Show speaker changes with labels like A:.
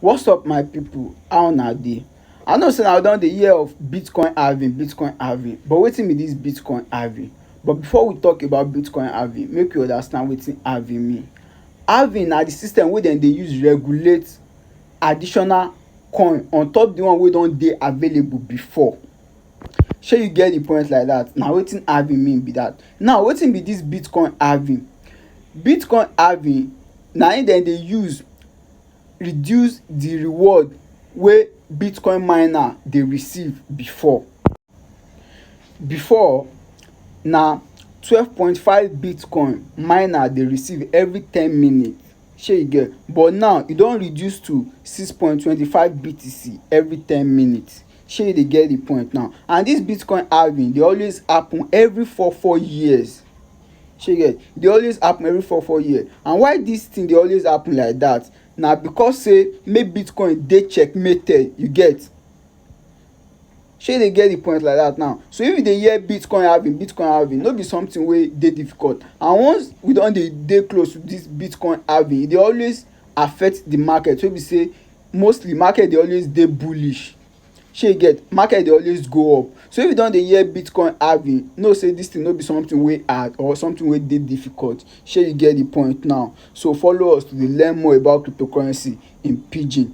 A: What's up my people, how una dey? I know say una don dey hear of Bitcoin halving, Bitcoin halving but wetin be this Bitcoin halving? But before we talk about Bitcoin halving make we understand wetin halving mean. Halving na the system wey dem dey use regulate additional coin on top the one wey don dey available before. Shey you get the point like that? Na wetin halving mean be that. Now wetin be this bitcoin halving? Bitcoin halving na im dem dey use reduce the reward wey bitcoin miner dey receive before. Before na twelve point five bitcoin miner dey receive every ten minute shey you get but now e don reduce to six point twenty five BTC every ten minute. shey you dey get the point now and this bitcoin halving dey always happen every four four years shey you get dey always happen every four four years and why this thing dey always happen like that na because say make bitcoin dey checkmated you get shey you dey get the point like that now so if you dey hear bitcoin halving bitcoin halving no be something wey dey difficult and once we don dey dey close to this bitcoin halving e dey always affect the market wey be say mostly market dey always dey bullish shey you get market dey always go up so if you don dey hear bitcoin halving know say this thing no be something wey hard or something wey dey difficult shey you get the point now so follow us to dey learn more about cryptocurrency in pidgin.